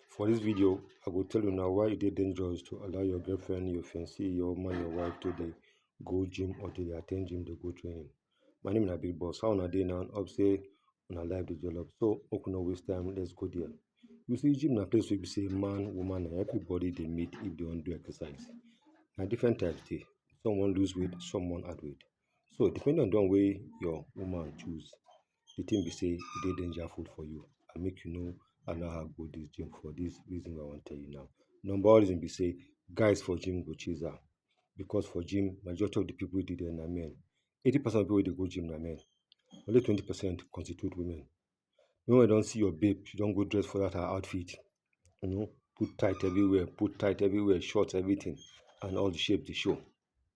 For this video, I will tell you now why it is dangerous to allow your girlfriend, your fiancé, your man, your wife to dey go gym or to dey attend gym to go training. My name is Big Boss. How una dey now? Hope say una life dey jollof. So make una waste time, let's go there. You see, gym na place wey be say man, woman, and everybody dey meet if they wan do exercise. Na different types dey. Some wan lose weight, some wan add weight. So depending on the one wey your woman choose, the thing be say e dey dangerful for you and make you no allow her go this gym for this reason wey I wan tell you now. Number one reason be say guys for gym go chase her because for gym majority of the people wey dey there na men. Eighty percent of the people wey dey go gym na men. Only twenty percent constitute women. When una don see your babe, she don go dress for that her outfit, you know, put tight everywhere, put tight everywhere, shorts, everything and all the shape dey show.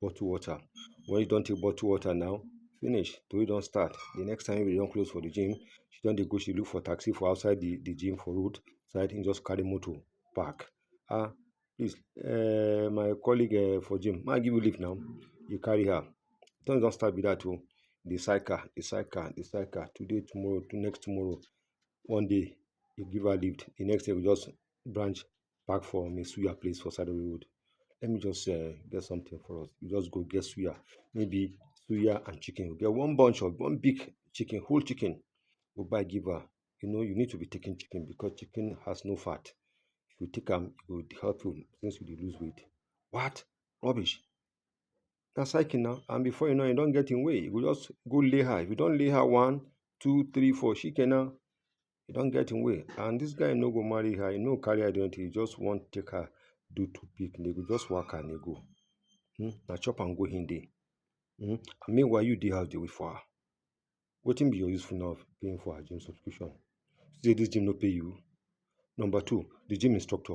bottle water when you don take bottle water now finish tori don start the next time you don close for the gym she don dey go she look for taxi for outside the the gym for road so that he just carry motor park ah please eh my colleague eh for gym ma give you lift now you carry her tori don start be that o the cycle the cycle the cycle today tomorrow next tomorrow one day you give her lift the next day you go just branch park for one suya place for side of the road let me just um get something for us we just go get suya maybe suya and chicken we get one bunch of one big chicken whole chicken go buy give her you know you need to be taking chicken because chicken has no fat if you take am e go help you since you dey lose weight what rubbish na cycling na and before you know you don get im way you go just go lay her if you don lay her one two three four shikenan He don't get him way. And this guy no go marry her. He no carry identity. He just want take her do to pick. They go just work and they go. Hmm? Now chop and go in there. Hmm? And meanwhile, you dey house dey wait for her. Wetin be your useful now paying for her gym subscription? Say this gym no pay you. Number two, the gym instructor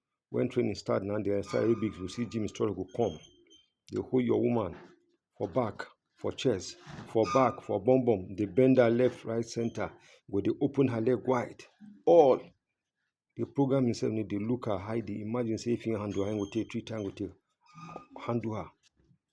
When training start na the exercise wey big, you go see gym instructor go come, dey hold your woman for back, for chest, for back, for bum bum, dey bend her left, right, center, go dey open her leg wide, all dey program himself, dey look her, dey imagine sey if him handle her, how e go take treat her, how e go take handle her.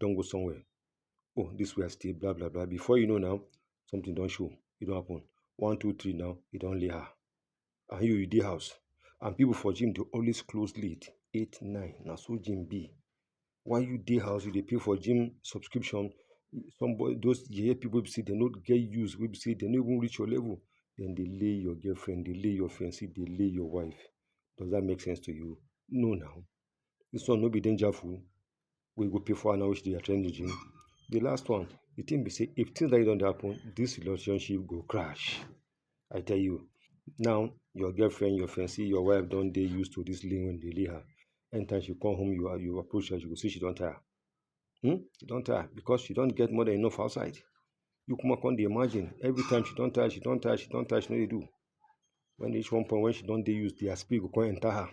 don go somewhere oh this were still blah blah blah before you know now something don show e don happen one two three now e don lay her and you you dey house and people for gym dey always close late eight nine na so gym be why you dey house you dey pay for gym subscription somebody those yeye people be say dem no get use wey be say dem no even reach your level dem dey lay your girlfriend dey lay your fiancé dey lay your wife does that make sense to you no now This one no be danger food wey go pay for am now wey she dey at ten d the gym. The last one, the thing be say if things like this don dey happen, this relationship go crash. I tell you. Now your girlfriend, your fiancée, your wife don dey used to this lay wey you dey lay her. Anytime she come home, you are you approach her, you go see she don tire. Hmm? She don tire because she don get more than enough for outside. You come come dey imagine every time she don tire, she don tire, she don tire, she no dey do. When each one point when she don dey use, their spirit go come enter her.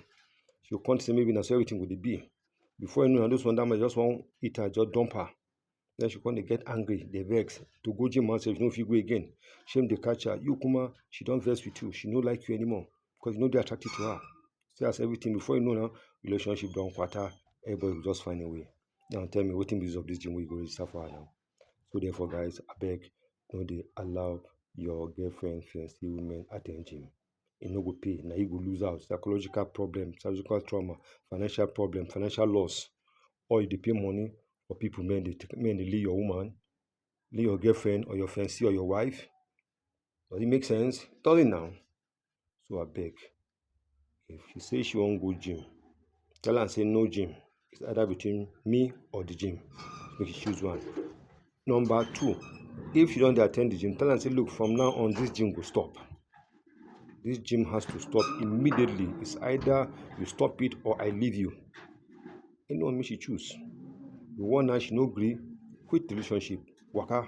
She go come say maybe na so everything go dey be. Before you know, na those one that man just wan eat her, just dump her. Then she come dey get angry, dey vex. To go gym herself, she no fit go again. Shame dey catch her. You kuma, she don vex with you. She no like you anymore because you no dey attractive to her. See as everything before you know now, relationship don kwata. Everybody go just find a way. Now tell me, wetin be the use of this gym wey you go register for her now? So therefore guys, I beg, no dey allow your girlfriend fiancé women attend gym. E no go pay, na you go lose out. Psychological problem, psychological trauma, financial problem, financial loss. Or you dey pay money for people men dey take men dey lay your woman, lay your girlfriend or your fiancé or your wife. Does it make sense? Tell me now. So abeg, if she say she wan go gym, tell am say no gym. It's either between me or the gym. Make she choose one. Number two, if she don dey attend the gym, tell am say look from now on this gym go stop. This gym has to stop immediately. It's either you stop it or I leave you. Anyone make she choose. You warn her, she no gree, quit the relationship, waka.